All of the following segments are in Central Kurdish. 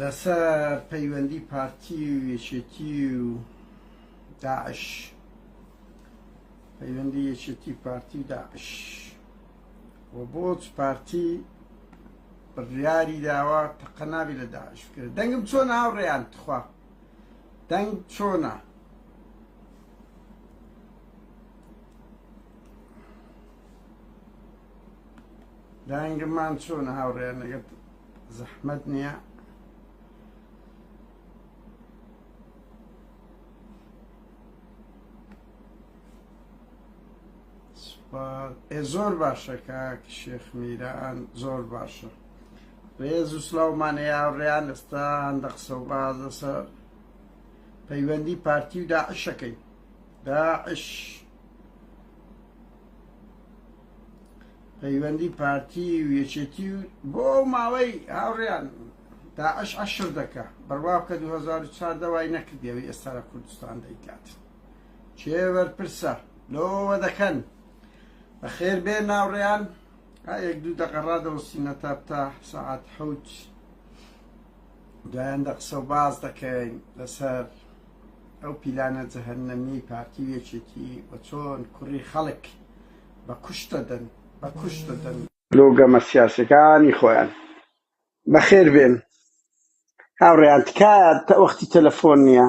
لەسەر پەیوەندی پارتی و یەکێتی و داعش پەیوەندی یەکێتی پارتی و داعش و بۆچ پارتی بڕیاری داوا تەقەناوی لە داعش کرد دەنگم چۆن هاوڕێیان تخوا دەنگ چۆنە دەنگمان چۆن هاوڕێیان لەگەت زەحمەت نییە زۆر باشە کاک شێخ میران زۆر باشە ڕێز و سلااومان هەیە ڕێیان لەستا هەندە قسە و باز لەسەر پەیوەندی پارتی و داعشەکەی داعش پەیوەندی پارتی و یەکێتی و بۆ ئەو ماوەی هاوڕیان داعش عشر دەکە بڕوا بکە 2004 دەوای نەکردیەوەی ئێستا لە کوردستان دەیکات چێ بەرپرسە لۆوە دەکەن بەخێر بێ ناوڕیان یەک دوو دەقەڕا دەوەستینە تا بتا سعات حوت دوایان دە قسە و باز دەکەین لەسەر ئەو پیلانە جەهەنەمیەی پارتی و یەکێتی و چۆن کوڕی خەڵک بە کوشت دەدەن بە کوشت دەدەن. لۆ گەمە سیاسیەکانی خۆیان. بەخێر بێن هاوڕێیان تکایە وەختی تەلەفۆن نیە.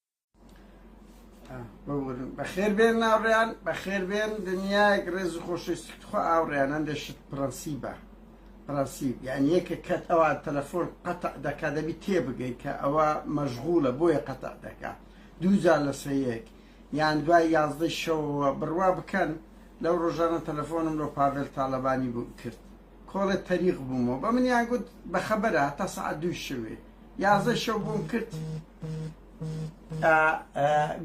بەخێر بێن ناوڕیان بەخێر بێن دنیایەک ڕێز و خۆشەویستی خۆ ئاوڕیان هەندێک شت پرەنسیبە پرەنسیب یان یەکە کەت ئەوە تەلەفۆن قەتع دەکا دەبی تێبگەی کە ئەوە مەژغوڵە بۆیە قەتع دەکا دووجار لەسەر یەک یان دوای یازدەی شەوەوە بڕوا بکەن لەو ڕۆژانە تەلەفۆنم لۆ پاڤێل تاالبانی بوو کرد کۆڵێ تەریق بوومەوە بە منیان گوت بە خەبەرە هەتا سەعات دووی شەوێ یازە شەو بۆم کرد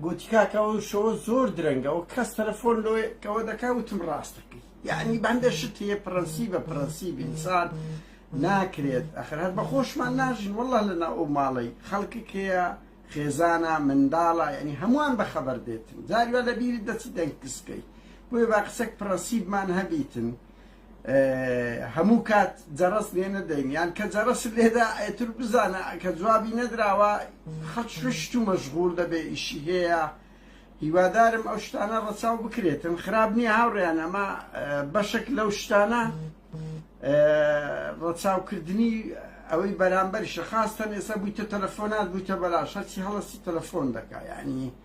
گوتی کاکەەوە شەوە زۆر درەنگەەوە کەس تەلەفۆن لۆیەکەوە دەکا وتم ڕاستەکەی یعنی بەندە شت هەیە پرەنسی بە پرەنسی بینسان ناکرێت ئەخر هەر بە خۆشمان ناژین والله لە ناو ئەو ماڵی خەڵکک هەیە خێزانە منداڵە یعنی هەمووان بە خەبەر دێتن جاریوا لە بیری دەچی دەنگ کسکەی بۆیە با قسەک پرەنسیبمان هەبیتن هەموو کات جەڕەس لێ نەدەین یان کە جەڕەس لێدا ئەتر بزانە کە جوابی نەدراوە خەچشت و مەشغول دەبێ ئیشی هەیە هیوادارم ئەو شتانە ڕەچاو بکرێتن خراپ نییە هاوڕێیان ئەمە بەشک لەو شتانە ڕەچاوکردنی ئەوەی بەرامبەر شەخاستەن ئێستا بوویتە تەلەفۆنات بوویتە بەلاش هەرچی هەڵستی تەلەفۆن دەکا ینی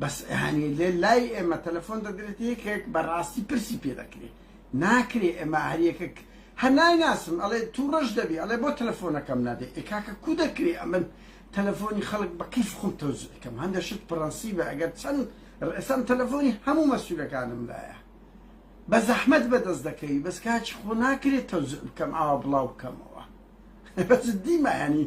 بەس هەنێ لێ لای ئێمە تەلەفۆن دەدرێتە یەکێک بەڕاستی پرسی پێ دەکرێ ناکرێ ئێمە هەر یەکێک هەر نایناسم ئەڵێ تووڕەش دەبێ ئەڵێ بۆ تەلەفۆنەکەم نادێ ئێ کاکە کو دەکرێ ئەمن تەلەفۆنی خەڵک بە کەیف خۆم تەوزیع کەم هەندێ شت پڕەنسیبە ئەگەر چەند ئێسام تەلەفۆنی هەموو مەسوولەکانم لایە بە زەحمەت بەدەست دەکەوی بەس کاچی خۆ ناکرێت تەوزیع بکەم ئاوا بڵاو بکەمەوە بە جددی مایانی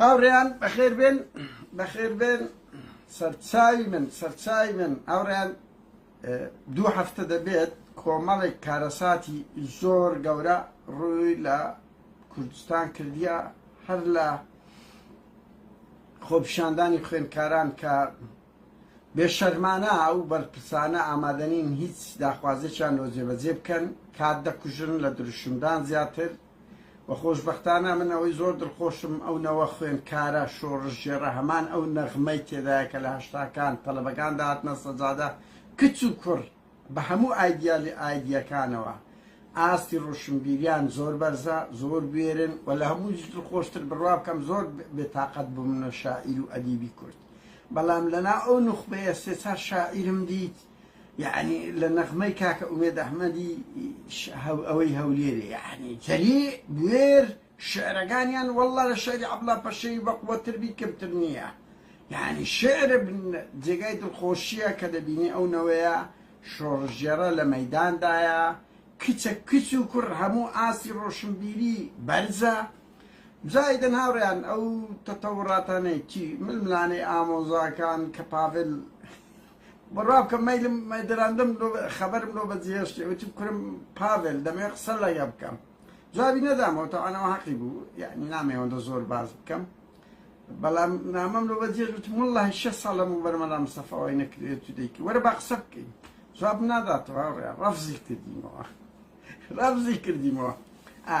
هاوڕێیان بەخێر بێن بەخێر بێن سەرچاوی من سەرچاوی من هاوڕێیان دوو هەفتە دەبێت کۆمەڵێک کارەساتی زۆر گەورە ڕووی لە کوردستان کردیە هەر لە خۆپیشاندانی خوێندکاران کە بێشەرمانە ئەو بەرپرسانە ئامادەنین هیچ داخوازێکیان لۆ جێبەجێ بکەن کات دەکوژن لە دروشمدان زیاتر وە خۆشبەختانە من ئەوەی زۆر دڵخۆشم ئەو نەوە خوێندکارە شۆڕشگێڕە هەمان ئەو نەغمەی تێدایە کە لە هەشتاکان تەڵەبەکان دەهاتنە سەجادە کچ و کوڕ بە هەموو ئایدیالی ئایدیەکانەوە ئاستی ڕۆشنبیریان زۆر بەرزە زۆر بوێرن و لە هەمووش دڵخۆشتر بڕوا بکەم زۆر بێتاقەت بوومنە شاعیر و ئەدیبی کورد بەڵام لەنا ئەو نوخبەیە سێ چار شاعیرم دیت یەعنی لە نەغمەی کاکە ئومێد ئەحمەدی ئەوەی هەولێرێ یەعنی جەلی بوێر شعرەکانیان وەڵڵا لە شعری عەبڵا پەشێوی بەقوەت تر بی کەم تر نییە یەعنی شعر جێگای دڵخۆشییە کە دەبینی ئەو نەوەیە شۆڕشگێڕە لە مەیداندایە کچە کچ و کوڕ هەموو ئاستی ڕۆشنبیری بەرزە زایدن هاوڕێیان ئەو تەتەوڕاتانەی چی ململانێی ئامۆزاکان کە پاڤل ڕابکە مەیلم دراندم لۆ خەبەرم لۆ بەجیهێشتێ وتی کورم پاڤێل دەمەوێ قسە لەگە بکەم جوابی نەدامەوە تەوانەوە حەقی بوو یعنی نامەوەندە زۆر باز بکەم بەڵام نامەم لۆ بەجێش وتم والله شە ساڵ لەم بەر مەلا مستەفاوای نەکرێت تو دەیکی وەرە با قسە بکەین جواب ناداتەوە ڕفزی کردینەوە ڕفزی کردینەوە ئا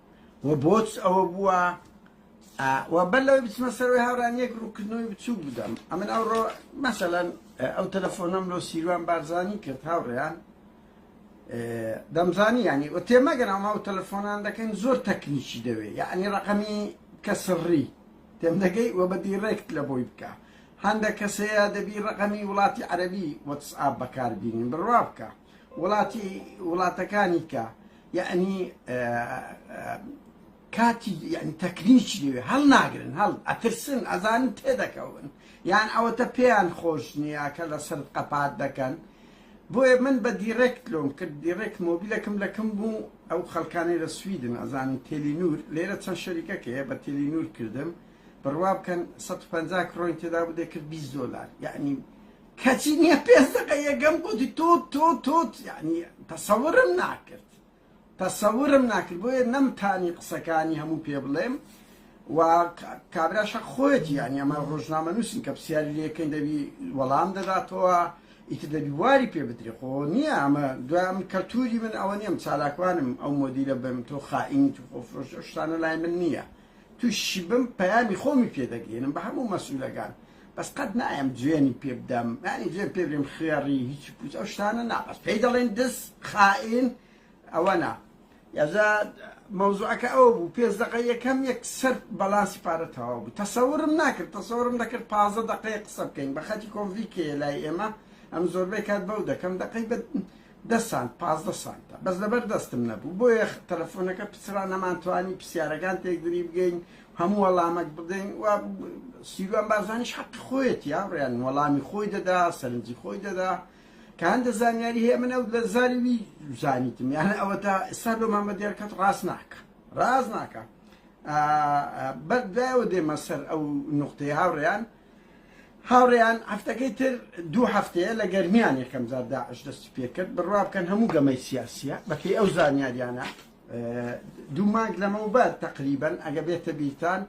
وە بۆچ ئەوە بووە وە بەر لەوەی بچمە سەرەوەی هاوران یەک ڕووکردنەوەی بچووک بدەم ئەمن ئەوڕۆ مەسەلەن ئەو تەلەفۆنەم لۆ سیروان بارزانی کرد هاوڕێیان دەمزانی ینی و تێمەگەن ئەما و تەلەفۆنان دەکەن زۆر تەکنیکی دەوێ یعنی ڕقەمی کە سڕی تێم دەگەی وە بەدی ڕێکت لە بۆی بکە هەندە کەسەیە دەبی ڕقەمی وڵاتی عەربی وەتسئاب بەکاربیین بڕوا بکە وڵاتی وڵاتەکانی کە یەعنی کاتی یعنی تەکنیکی لێوێ هەڵ ناگرن هەڵ ئەترسن ئەزانن تێدەکەون یان ئەوەتە پێیان خۆش نییە کە لە سەر قەپات دەکەن بۆیە من بە دیڕێکت لۆم کرد دیڕێک مۆبیلەکەم لەکەم بوو ئەو خەڵکانی لە سویدن ئەزانن تێلی نور لێرە چەند شەریکەکەیە بە تێلی نور کردم بڕوا بکەن 150 کڕۆین تێدا بدێ کرد 20 دلار یعنی کەچی نیە پێنج دەقە یەکەم گۆتی توت توت توت یانی تەسەورم ناکرد تەسەورم ناکرد بۆیە نەمتانی قسەکانی هەموو پێ بڵێم و کابراشە خۆیەتی یانی ئەمە ڕۆژنامە نووسین کە پرسیاری لەکەین دەبی وەڵام دەداتەوە ئیتر دەبی واری پێ بدرێ خۆ نییە ئەمە دوام کەلتوری من ئەوە نیەم چالاکوانم ئەو مۆدیلە بم تۆ خائینی تو خۆفرۆش شتانە لای من نییە توشی بم پەیامی خۆمی پێدەگەێنم بە هەموو مەسوولەکان بەس قەت نایەم جوێنی پێ بدەم یانی جوێن پێ برێم خوێڕی هیچی پوچ ئەو شتانە نا بەس پێی دەڵێن دز خائین ئەوە نا یازا مەوزوعەکە ئەو بوو پێنج دقە یەکەم یەک سەر بەڵانسی پارە تەواو بوو تەسەورم ناکرد تەسەورم دەکرد پازە دقەیە قسە بکەین بە خەتی کۆنڤیکێ لای ئێمە ئەم زۆربەی کات بەو دەکەم دقەی بە دە سانت پازدە سانتە بەس لەبەر دەستم نەبوو بۆیە تەلەفۆنەکە پچڕا نەمانتوانی پرسیارەکان تێکدری بگەین هەموو وەڵامەک بدەین و سیروان بارزانیش حەقی خۆیەت یا ڕێن وەڵامی خۆی دەدا سەرنجی خۆی دەدا کە هەندە زانیاری هەیە من ئەو لە زاری وی زانیتم یانە ئەوە تا ئێستا لۆ مامە دیارکەت ڕاست ناکە ڕاست ناکە بەر دوایەوە دێمە سەر ئەو نقطەی هاوڕێیان هاوڕێیان هەفتەکەی تر دوو هەفتەیە لە گەرمیان یەکەم جار داعش دەستی پێکرد بڕوا بکەن هەموو گەمەی سیاسیە بەپێی ئەو زانیاریانە دوو مانگ لەمەوبەر تقریبن ئەگە بێتە بیرتان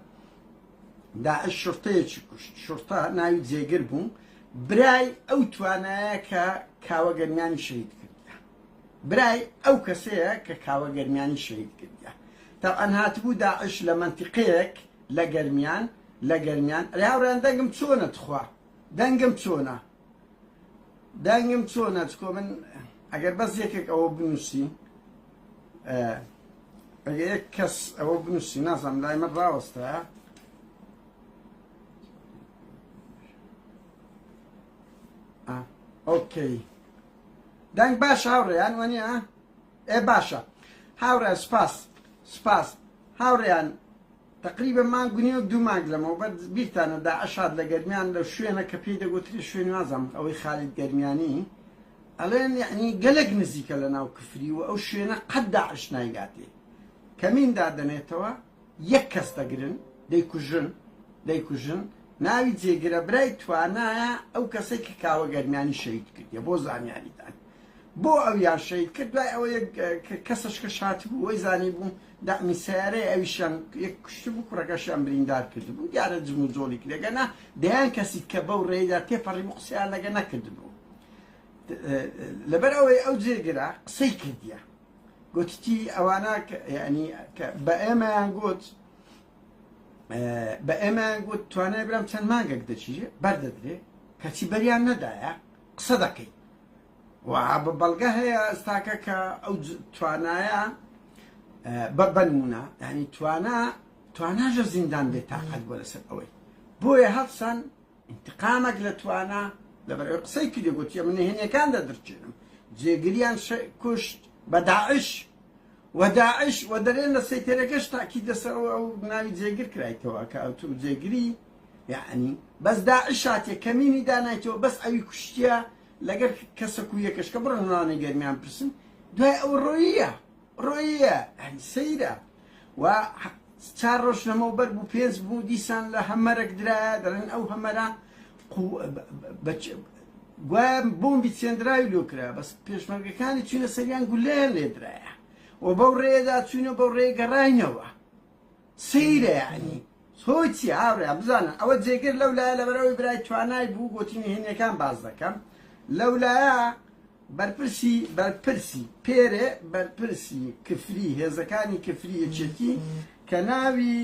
داعش شرتەیەکی کوشت شرتە ناوی جێگر بوو برای ئەو توانایە کە کاوە گەرمیانی شەید کردە برای ئەو کەسەیە کە کاوە گەرمیانی شەید کردە تاعاان هاتبوو داعش لە منتیقەیەک لە گەرمیان لە گەرمیان. ئەرێ هاوڕێیان دەنگم چۆنە تخوا دەنگم چۆنە دەنگم چۆنە چکۆ من ئەگەر بەس یەکێک ئەوە بنووسی ئەگە یەک کەس ئەوە بنووسی نازانم لای من ڕاوەستە ئۆکەی دەنگ باش هاوڕێیان وەنیە ئێ باشە هاوڕێیان سوپاس سوپاس هاوڕێیان تقریبا مانگ و نیو دوو مانگ لەمەوبەر بیرتانە داعش هات لە گەرمیان لە شوێنە کە پێی دەگوترێ شوێن نازام ئەوەی خالید گەرمیانی ئەڵێن یعنی گەلێک نزیکە لە ناو کفری و ئەو شوێنە قەت داعش نایگاتێ کەمین دادەنێتەوە یەک کەس دەگرن دەیکوژن دەیکوژن ناوی جێگرە برای توانایە ئەو کەسەی کە کاوە گەرمیانی شەید کردیە بۆ زانیاریتان بۆ ئەو یان شەید کرد دوای ئەوە کەسش کە شات بوو وەی زانی بوو دامی سیارەی ئەویشان یەک کوشت بوو کوڕەکەشیان بریندار کرد بوو دیارە جم و جۆڵی کرێگەنا دەیان کەسی کە بەو ڕێدا تێپەڕی بوو قسەیان لەگە نەکرد بوو لەبەر ئەوەی ئەو جێگرا قسەی کردیە گوتتی ئەوانە بە ئێمەیان گوت بە ئێمەیان گوت توانای برام چەند مانگێک دەچی بەردەدرێ کەچی بەریان نەدایە قسە دەکەیت بە بەڵگە هەیە ئەستاکە کە ئەو توانایە بە بەنمونە ینی توانا تواناژە زیندان بێتاقەت بۆ لەسەر ئەوەی بۆیە هەڵسان ئینتقامەک لە توانا لەبەر ئەوەی قسەی کردی گۆتیە من نهێنیەکان دەدرچێنم جێگریان کوشت بە داعش و داعش و دەرێن لە سەیتەرەکەش تاکی دەسەوە ئەو ناوی جێگر کرایتەوە کە ئەوتو جێگری یعنی بەس داعش هاتیە کەمینی دانایتەوە بەس ئەوی کوشتیە لەگەر کەسەک و یەکەشکە بڕنوانە گەرمیان پرسن دوای ئەو ڕۆیە ڕۆیە سەیرە و چار ڕۆژ لەمەو بەر بوو پێنج بوو دیسان لە هەمەرەک درایە دەڵێن ئەو هەمەرە گوایە بۆمبی چێندراوی لۆ کرا بەس پێشمەرگەکانی چوینە سەریان گولەیان لێدرایە و بەو ڕێدا چوینە بەو ڕێ گەڕینەوە سەیرە یعنی هۆی چیە هاوڕێیان بزانن ئەوە جێگر لەولایە لەبەرئەوەی برای توانای بوو گۆتی نهێنیەکان باس دەکەم لەولایە بەرپرسی بەرپرسی پێرێ بەرپرسی کفری هێزەکانی کفری یەکێتی کە ناوی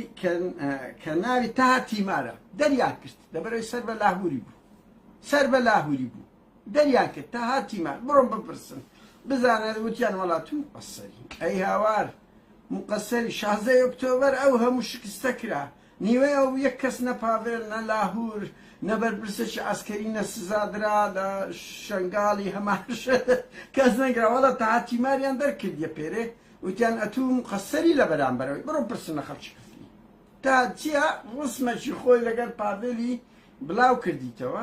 کە ناوی تاها تیمارە دەریان کرد لەبەرەوەی سەر بە لاهوری بوو سەر بە لاهوری بوو دەریان کرد تا هاتیمان بڕۆن بپرسن بزانە وتیان وەڵا تو مقەسەری ئەی هاوار مقەسەری شازدە ئۆکتۆبەر ئەو هەموو شکستە کرا نیوەی ئەو یەک کەس نە پاڤێل نە لاهور نە بەرپرسێکی عەسکەری نە سزادرا لە شەنگاڵی هەماش کەس نەگرا وەڵا تا هاتیماریان دەرکردیە پێرێ وتیان ئەتوو مقەسەری لە بەرامبەرەوەی بڕۆ پرسن لە خەڵکی کفری تا چیا ڕسمەکی خۆی لەگەر پاڤێلی بلاو کردیتەوە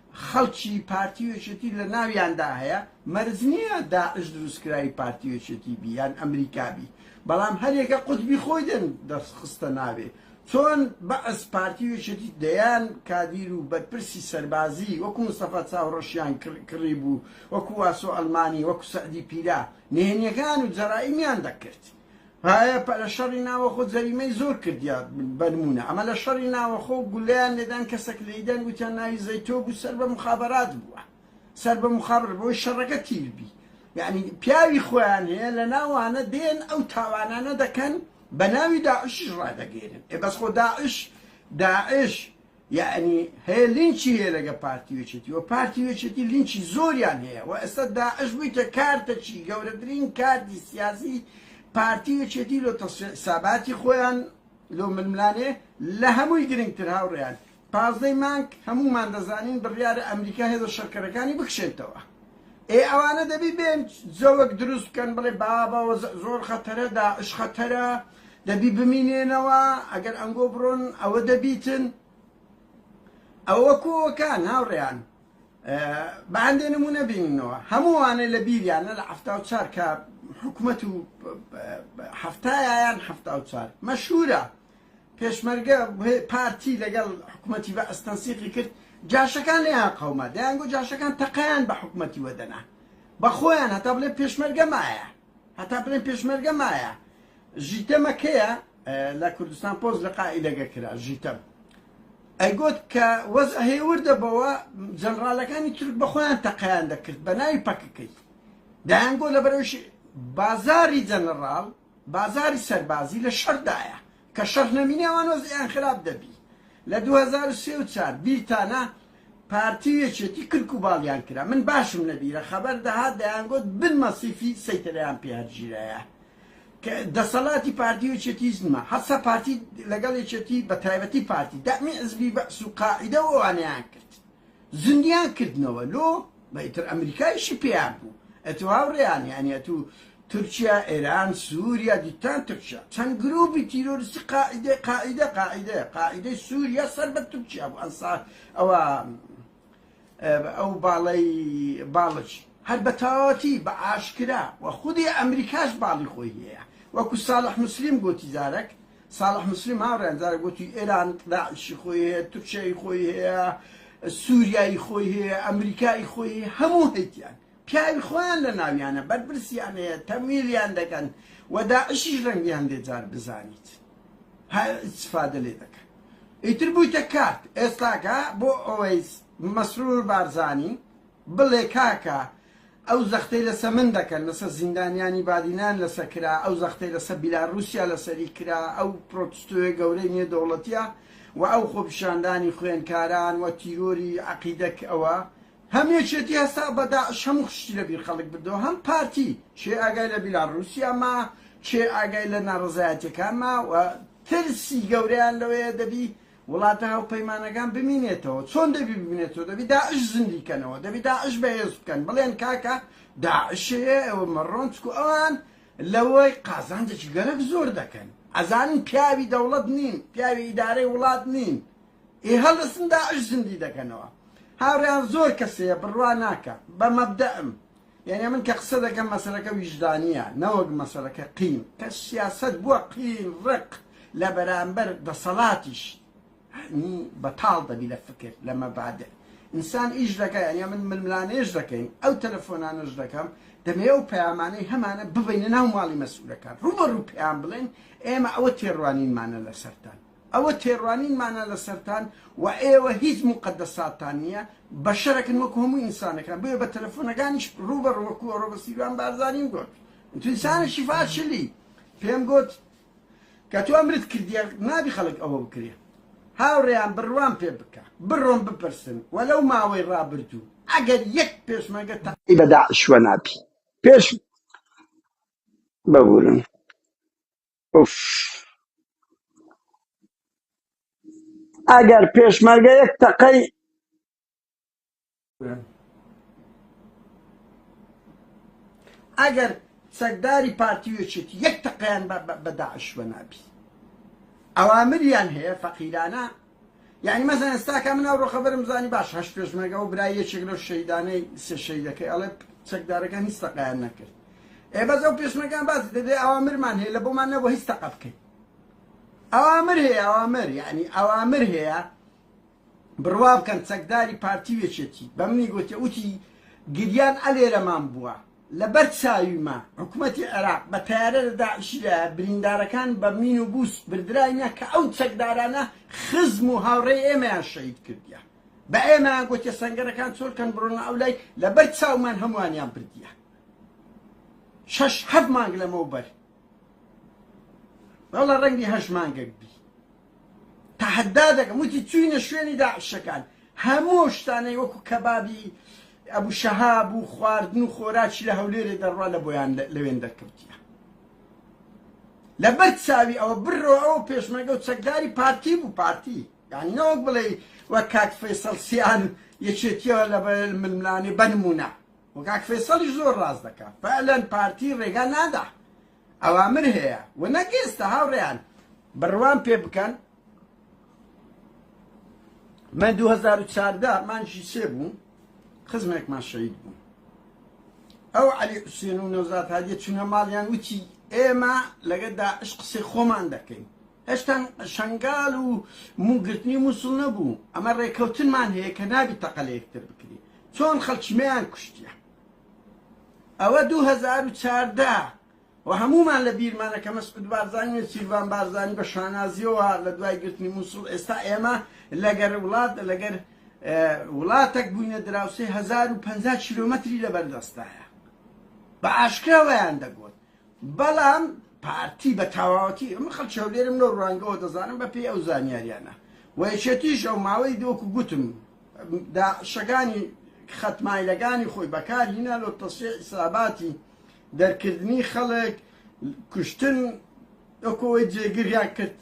خەڵکی پارتی و یەکێتی لە ناویاندا هەیە، مەرج نییە داعش دروستکراوی پارتی و یەکێتی بی یان ئەمریکا بی، بەڵام هەریەکە قوتبی خۆی دەن دەرخستە ناوێ، چۆن بەعس پارتی و یەکێتی دەیان کادیر و بەرپرسی سەربازی وەکو مستەفا چاوڕەشیان کڕیبوو، وەکو واسۆ ئەلمانی، وەکو سەعدی پیرە، نهێنیەکان و جەرائیمیان دەکرد. هەیە پە لە شەڕی ناوەخۆ جەریمەی زۆر کردیە بە نمونە ئەمە لە شەڕی ناوەخۆ گولەیان لێدان کەسەک لێیدان وتیان ناوی زەیتۆ بوو سەر بە مخابەرات بووە سەر بە مخابر بۆی شەڕەکە تیر بی یعنی پیاوی خۆیان هەیە لە ناوانە دێن ئەو تاوانانە دەکەن بە ناوی داعشیش ڕادەگەێنن ئێ بەس خۆ داعش داعش یەعنی هەیە لینچی هەیە لەگە پارتی و یەکێتی وە پارتی و یەکێتی لینچی زۆریان هەیە وە ئێستا داعش بویتە کارتەکی گەورەترین کارتی سیاسی پارتی و یەکێتی لۆ تەسفیە حساباتی خۆیان لۆ ململانێ لە هەمووی گرنگتر هاوڕێیان پازدەی مانگ هەموومان دەزانین بڕیارە ئەمریکا هێزە شەڕکەرەکانی بکشێتەوە ئێ ئەوانە دەبی بێن جەوەک دروست بکەن بڵێ بابەوە زۆر خەتەرە داعش خەتەرە دەبی بمینێنەوە ئەگەر ئەنگۆ بڕۆن ئەوە دەبیتن ئەوە کۆوەکان هاوڕێیان بە هەندێ نمونە بیننەوە هەمووانێ لە بیریانە لە هەفتا و چار کە حکوومەت و هەفتایان هەفتا و چار مەشهورە پێشمەرگە پارتی لەگەڵ حکوومەتی بە ئەستەنسیقی کرد جاشەکان لێیان قەوما دەیانگو جاشەکان تەقەیان بە حکوومەتی وەدەنا بە خۆیان هەتا بڵێ پێشمەرگە مایە هەتا بلێن پێشمەرگە مایە ژیتەمە کەیە لە کوردستان پۆز لە قائیدەگە کرا ژیتەم ئەیگوت کە وەز هێوردە بەوە جەنرالەکانی تورک بەخۆیان تەقیان دەکرد بە ناوی پەکەکەی دایانگۆ لە بەرەوش بازاری جەنەڕال بازاری سەربازی لە شەردایە کە شەڕ نەمینێ ئەوان وەزعیان خراپ دەبی لە دوو هەزار و سێ و چار بیرتانە پارتی و یەکێتی کرک و باڵیان کرا من باشم لەبیرە خەبەر دەهات دەیانگوت بن مەسیفی سەیتەرەیان پێ هەرگیرایە کە دەسەڵاتی پارتی و یەکێتی هیچ نما هەسا پارتی لەگەڵ یەکێتی بە تایبەتی پارتی دەعمی حزبی بەعس و قاعیدە و ئەوانەیان کرد زندیان کردنەوە لۆ بە ئیتر ئەمریکایشی پێیان بوو ئەتوو هاوڕێیان یانی ئەتوو تورکیا ئێران سووریا دیتان تورکیا چەند گرووپی تیرۆرسی قاعدە قاعدە قاعدە قاعدەی سووریا سەر بە تورکیا بوو ئەنسا ئەوە ئەو باڵی باڵچ هەر بە تەواوەتی بە ئاشکرا و خودی ئەمریکاش باڵی خۆی هەیە وەکو ساڵح مسلیم گوتی زارەک ساڵح موسلیم هاوڕێیان جارێک وتی ئێران داعشی خۆی هەیە، تورکیای خۆی هەیە، سوریای خۆی هەیە، ئەمریکای خۆی هەیە، هەموو هەیتیان پیاوی خۆیان لە ناویانە بەرپرسیان هەیە تەمویلیان دەکەن و داعشیش رەنگیان دێ جار بزانیت هە ئیستفادە لێ دەکەن ئیتر بوویتە کارت ئێستاکە بۆ ئەوەیس مەسرور بارزانی بڵێ کاکە ئەو زەختەی لەسە من دەکەن لەسە زیندانیانی بادینان لەسە کرا ئەو زەختەی لەسە بیلا روسیا لەسەری کرا ئەو پرۆتستۆیە گەورەی نێ دەوڵەتیە وە ئەو خۆپیشاندانی خوێنکاران وە تیرۆری عەقیدەک ئەوە هەم یەکێتی هەستا بە داعش هەموو شتی لە بیر خەڵک بردەوە هەم پارتی کێ ئاگای لە بیلا روسیا ما کێ ئاگای لە نارەزایەتیەکان ما وە ترسی گەورەیان لەوەیە دەبی وڵاتە هاوپەیمانەکان بمینێتەوە چۆن دەبی بمینێتەوە دەبی داعش زندی کەنەوە دەبی داعش بەهێز بکەن بڵێن کاکە داعشەیە ئەوە مەڕۆن چکو ئەوان لەوەی قازانجێکی گەرەک زۆر دەکەن ئەزانن پیاوی دەوڵەت نین پیاوی ئیدارەی وڵات نین ئێ هەڵدەسن داعش زندی دەکەنەوە هاوڕیان زۆر کەسەیە بڕوا ناکە بە مەبدەم یانێ من کە قسە دەکەم مەسەلەکە ویژدانیە نەوەک مەسەلەکە قین کە سیاسەت بوە قین ڕق لە بەرامبەر دەسەڵاتیش ینی بەتاڵ دەبی لە فکر لە مەبادئ ئینسان ئیش دەکە یانە من ململانێش دەکەین ئەو تەلەفۆنانەش دەکەم دەمێ و پەیامانەی هەمانە ببینە ناو ماڵی مەسئولەکان ڕوبەڕوو پێیان بڵێن ئێمە ئەوە تێڕوانینمانە لەسەرتان ئەوە تێڕوانینمانە لەسەرتان و ئێوە هیچ موقەدەساتتان نییە، بەشەرەکن وەکو هەموو ئینسانەکان، بۆیە بە تەلەفۆنەکانیش ڕووبەڕوو وەکو ئەوڕۆ بە سیروان بارزانیم گۆت، تو انسان شفاشلی، پێم گۆت، کە تۆ ئەمرت کردیە نابی خەڵک ئەوە بکرێ، هاوڕێیان بڕوام پێ بکە، بڕۆن بپرسن و لەو ماوەی ڕابردوو ئەگەر یەک پێشمەرگە تە. ی بە داعش وەنابی پێش ببورن. ئوف ئەگەر پێشمەرگە یەک تەقەی ئەگەر چەکداری پارتی وێچێت یەک تەقیان بە داعش بە نابی ئەوامریان هەیە فەقیرانە یانی مەزەن ئێستا کە من ئەو ڕۆخەبەرم زانی باش هەشت پێشمەرگە و برای یەکێک لەو شەیدانەی سێ شەیدەکەی ئەڵێ چەکدارەکان هیچ تەقەیان نەکرد ئێ بەس ئەو پێشمەرگان باسی دەدێ ئەوامرمان هەیە لە بۆمان نەبوو هیچ تەقە بکەین ئەوامر هەیە ئەوامر یعنی ئەوامر هەیە بڕوا بکەن چەکداری پارتی وێچێتی بە منی گوتێ وتی گریان ئەلێرەمان بووە لە بەر چاویمە حکومەتی عێراق بە تەیارە لە داعشی دایە بریندارەکان بە مین و بوس بردراینە کە ئەو چەکدارانە خزم و هاوڕێی ئێمەیان شەهید کردیە بە ئێمەیان گۆتیە سەنگەرەکان چۆل کەن بڕۆنە ئەو لای لە بەر چاومان هەمووانیان بردیە شەش هەفت مانگ لەمەو بەر وەڵا ڕەنگی هەشت مانگەک بی تەحەدا دەکەم وتی چوینە شوێنی داعشەکان هەموو شتانەی وەکو کەبابی ئەبو شەهاب و خواردن و خۆراکی لە هەولێرێ دەڕوا لە بۆیان لەوێن دەرکەوتیە لەبەر چاوی ئەوە بڕۆ ئەو پێشمەگە و چەکداری پارتی بوو پارتی یعنی نەوەک بڵێ وە کاک فەیسەڵ سیان یەکێتیەوە لە ململانی بەنمونە وە کاک فەیسەڵی زۆر ڕاست دەکات فعلەن پارتی ڕێگا نادا ئەوامر هەیە و نەک ئێستا هاوڕێیان بڕوام پێ بکەن من دوو هەزار و چاردە مانگی سێ بوو خزمێکمان شەهید بوو ئەو عەلی حوسێن و نەوزاد هادیە چونە ماڵیان وتی ئێمە لەگە داعش قسەی خۆمان دەکەین هێشتان شنگال و موگرتنی مووسڵ نەبوو ئەمە ڕێکەوتنمان هەیە کە نابی تەقە لە یەکتر بکری چۆن خەڵکیمەیان کوشتە ئەوە دوو هەزار و چاردە و هەموومان لە بیرمانە کە مەسعود بارزانی و سیرڤان بارزانی بە شانازیەوە لە دوای گرتنی مووسڵ ئێستا ئێمە لەگەر وڵات لەگەر وڵاتەک بووینە دراوسێ هەزار و پەنجا کیلۆمەتری لەبەردەستایە بە ئاشکراوەیان دەگوت بەڵام پارتی بە تەواوەتی، ئەمە خەڵکی هەولێرم لەو ڕوانگەوە دەزانم بەپێی ئەو زانیاریانە و یەکێتیش ئەو ماوەی وەکو گوتم داعشەکانی خەت مایلەکانی خۆی بەکارهینا لۆ تەسفیە حیساباتی دەرکردنی خەڵک کوشتن وەکەوەی جێگریان کرد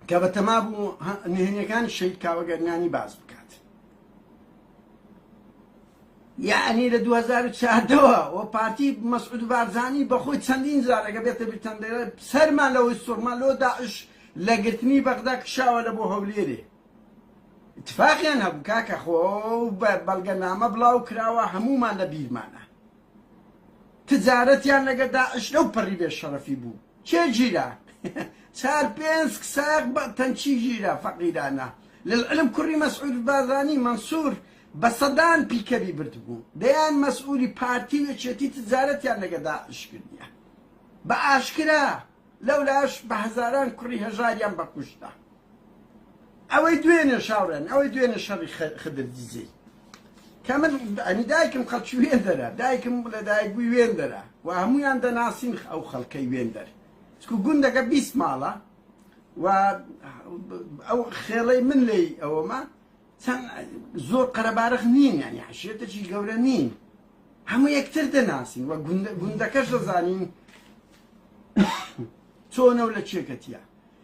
کە بەتەما بوو نهێنیەکانی شەید کاوە گەرمیانی باز بکات. یەعنی لە دوو هەزار و چواردە وە وە پارتی مەسعود بارزانی بە خۆی چەندین جار ئەگە بێتە بیرتان دەیڵێ سەرمان لەوەی سوڕمان لۆ داعش لە گرتنی بەغدا کشاوە لە بۆ هەولێرێ اتفاقیان هەبوو کاکە خۆ بە بەڵگەنامە بڵاو کراوە هەموومان لە بیرمانە تجارەتیان لەگە داعش لەو پەڕی بێ شەڕەفی بوو کێ گیرا چار پێنج ساق بە تەنچی گیرا فەقیرانە لەعلم کوڕی مەسعود بازانی مەنسوور بە سەدان پیکەبی بردبوو دەیان مەسئولی پارتی و یەکێتی تجارەتیان لەگە داعش کردە بە ئاشکرا لەولاش بە هەزاران کوڕی هەژاریان بەکوشتە ئەوەی دوێنێ شاورێن ئەوەی دوێنێ شەڕی خدر دزی کە من ئەنی دایکم خەڵکی وێن دەرە دایکم لە دایک بووی وێن دەرە و هەمویان دەناسین ئەو خەڵکەی وێن دەر چکو گوندەکە بیست ماڵە و ئەو خێڵەی من لی ئەوەمە چەند زۆر قەرەبارخ نین یانی عشێتەکی گەورە نین هەموو یەکتر دەناسین و گوندەکەش دەزانین چۆنە و لە چێکەتیە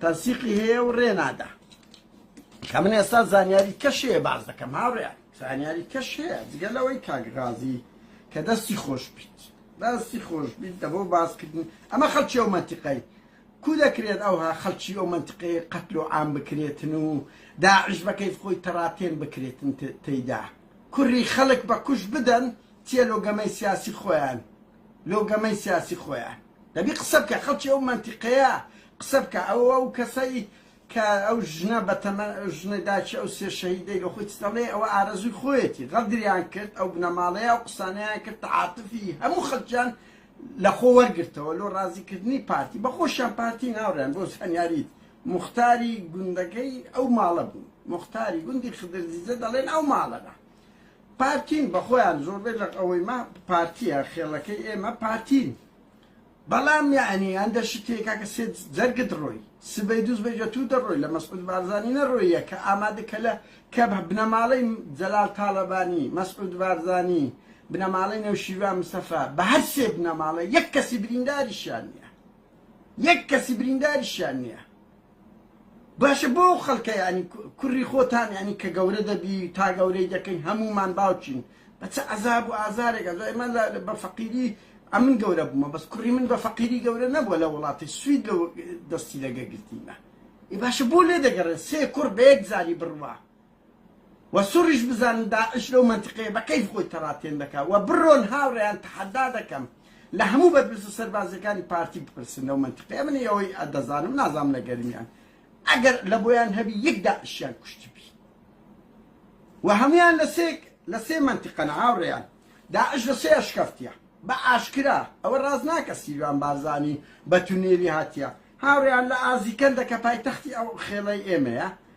تەنسیقی هەیە و ڕێ نادا کە من ئێستا زانیاری کەشەیە باز دەکەم هاڕێ زانیاری کەش هەیە جگە لەوەی کاگرازی کە دەستی خۆش بیت دەستی خۆش بیت دەبەوە باسکردن ئەمە خەلکی ئەو منتیقای کو دەکرێت ئەوها خەلکی ئەو منتیقی قەتل و عام بکرێتن و داعش بەکەیف خۆی تەڕاتێن بکرێتن تێدا کوڕی خەلک بە کوش بدەن تێلۆگەمەی سیاسی خۆیان لۆ گەمەی سیاسی خۆیان دەبی قسە بکە خەڵکی ئەو مەنتیقەیە قسە بکە ئەو ئەو کەسەی کە ئەو ژنە بەتەمە ژنە داچی ئەو سێ شەهیدەی لە خۆی دەڵێ ئەوە ئارەزوی خۆیەتی غەدریان کرد ئەو بنەماڵەیە ئەو قسانەیان کرد عاتفی هەموو خەڵکیان لە خۆ وەرگرتەوە لۆ ڕازیکردنی پارتی بەخۆشیان پارتی ناوڕێن بۆ هەنیاریت مختاری گوندەکەی ئەو ماڵە بوو مختاری گوندی خدرزیزە دەڵێن ئەو ماڵەدا پارتین بەخۆیان زۆربەی لەق ئەوەی ما پارتیە خێڵەکەی ئێمە پارتین بەڵام یعنی ئەندە شتێکە کە سێت جەرگت ڕۆی سبەی دووز بەجە تو دەڕۆی لە مەسعود بارزانانی نەڕۆیە کە ئامادە کە لە کە بنەماڵەی جەلال تاڵەبانی مەسعود بارزانی بنەماڵەی نەوشیروان مستەفا بە هەر سێ بنەماڵە یەک کەسی برینداریشیان نییە یەک کەسی برینداریشیان نییە باشە بۆ ئەو خەڵکە یانی کوڕی خۆتان یانی کە گەورە دەبی تا گەورەی دەکەین هەمومان باوکین بە چ عەزاب و ئازارێکە جا ئێمە بە فەقیری ئەمن گەورە بوومە بەس کوڕی من بە فەقیری گەورە نەبووە لە وڵاتی سوید لە دەستی لەگە گرتیمە ئێ باشە بۆ لێ دەگەڕێ سێ کوڕ بە یەک جاری بڕوا وە سوڕیش بزانن داعش لەو مەنتقەیە بە کەیف خۆی تەڕاتێن دەکا وە بڕۆن هاوڕێیان تەحەدا دەکەم لە هەموو بەرپرسە سەربازیەکانی پارتی بپرسن لەو مەنتقەیە من ئەوەی ئەدەزانم نازانم لە گەرمیان ئەگەر لە بۆیان هەبی یەک داعشیان کوشتبی وە هەمویان لە سێ لە سێ مەنتقەن هاوڕێیان داعش لە سێ ئەشکەفتیە بە ئاشکرا ئەوە ڕاز ناکە سیروان بارزانی بە تونێلی هاتیە هاوڕێیان لە ئازیکەندە کە پایتەختی ئەو خێڵەی ئێمەیە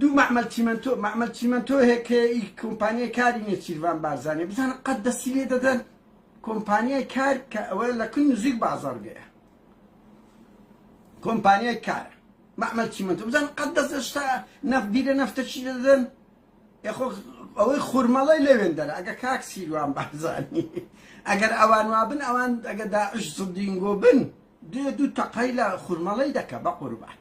دوو مەعمەل چیمەنتۆ مەعمەل چیمەنتۆ هەیە کە ئی کۆمپانیای کاری نێچیرڤان بارزانیە بزانە قەت دەستی لێ دەدەن کۆمپانیای کار کە ئەوە لە کن نزیک بازاڕگەیە کۆمپانیای کارە مەعمەل چیمەنتۆ بزان قەت دەست شتا نەفت بیرە نەفتە چی دەدەن یخۆ ئەوەی خورمەڵی لەوێن دەرە ئەگە کاک سیروان بارزانی ئەگەر ئەوان وابن ئەوان ئەگە داعش سدینگۆ بن دێ دوو تەقەی لە خورمەڵەی دەکا بەقوربان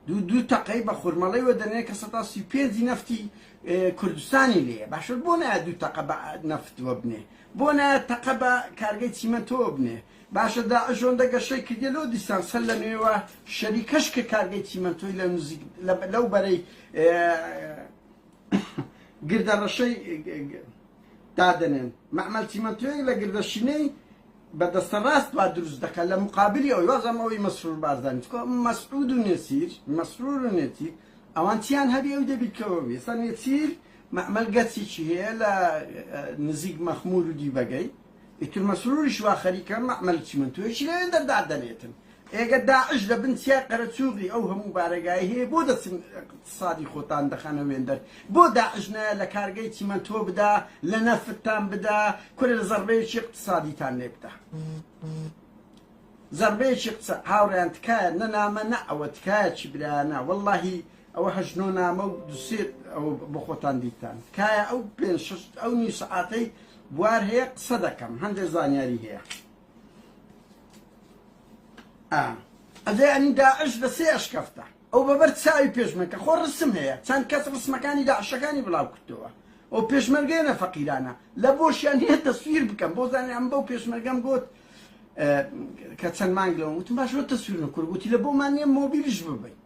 دوو دوو تەقەی بە خورمەڵەی وەدەنێ کە سەتا سی و پێنجی نەفتی کوردستانی لێیە باشە بۆ نایە دوو تەقە بە نەفت وەبنێ بۆ نایە تەقە بە کارگەی چیمەنتۆوە بنێ باشە داعش ئەوەندە گەشەی کردیە لۆ دیسان سەر لە نوێوە شەریکەش کە کارگەی چیمەنتۆی لە نزیک لەو بەرەی گردە ڕەشەی دادەنێن مەعمەل چیمەنتۆیەک لە گردە شینەی بە دەستە ڕاست وا دروست دەکات لە مقابلی ئەوی وازم ئەوی مەسرور بارزانی چکۆ مەسعود و نێسیر مەسرور و نێتی ئەوان چیان هەبی ئەو دەبیکەوە وێستا نێسیر مەعمەل گەچێکی هەیە لە نزیک مەخمور و دیبەگەی ئیتر مەسروریش وا خەریکە مەعمەل چیمەنتۆیەکی لەوێ دەردادەنێتن. ئێگە داعش لە بن چیای قەرەچووغی ئەو هەموو بارەگایەی هەیە بۆ دەچن ئیقتسادی خۆتان دەخەنە وێندەر؟ بۆ داعش نایە لە کارگەی چیمەنتۆ بدا، لە نەفتتان بدا، کورە زەڕبەیەکی ئیقتسادیتان لێ بدا. زەڕبەیەکی ئیقتسا. هاوڕێیان تکایە نە نامە نە ئەوە تکایە چی برایانە وەڵاهی ئەوە هەشت نۆ نامە و دوو سێ ئەوە بۆ خۆتان دیتان. تکایە ئەو پێنج شەش ئەو نیو سەعاتەی بوار هەیە قسە دەکەم هەندێک زانیاری هەیە ئەدەی ئەنی داعش لە سێ ئەشکەفتە ئەو بەبەر چاوی پێشمەکە خۆ ڕسم هەیە چەند کەس ڕسمەکانی داعشەکانی بڵاو کردەوە ئەو پێشمەرگێنە فەقیرانە لە بۆشیان هەیە تەسویر بکەم بۆ زانانی ئەم بەو پێشمەرگەم گوت کە چەند مانگ لەوە وتم باش بۆ تەسویر نکرد گوتی لە بۆمان نیە مۆبیلش ببین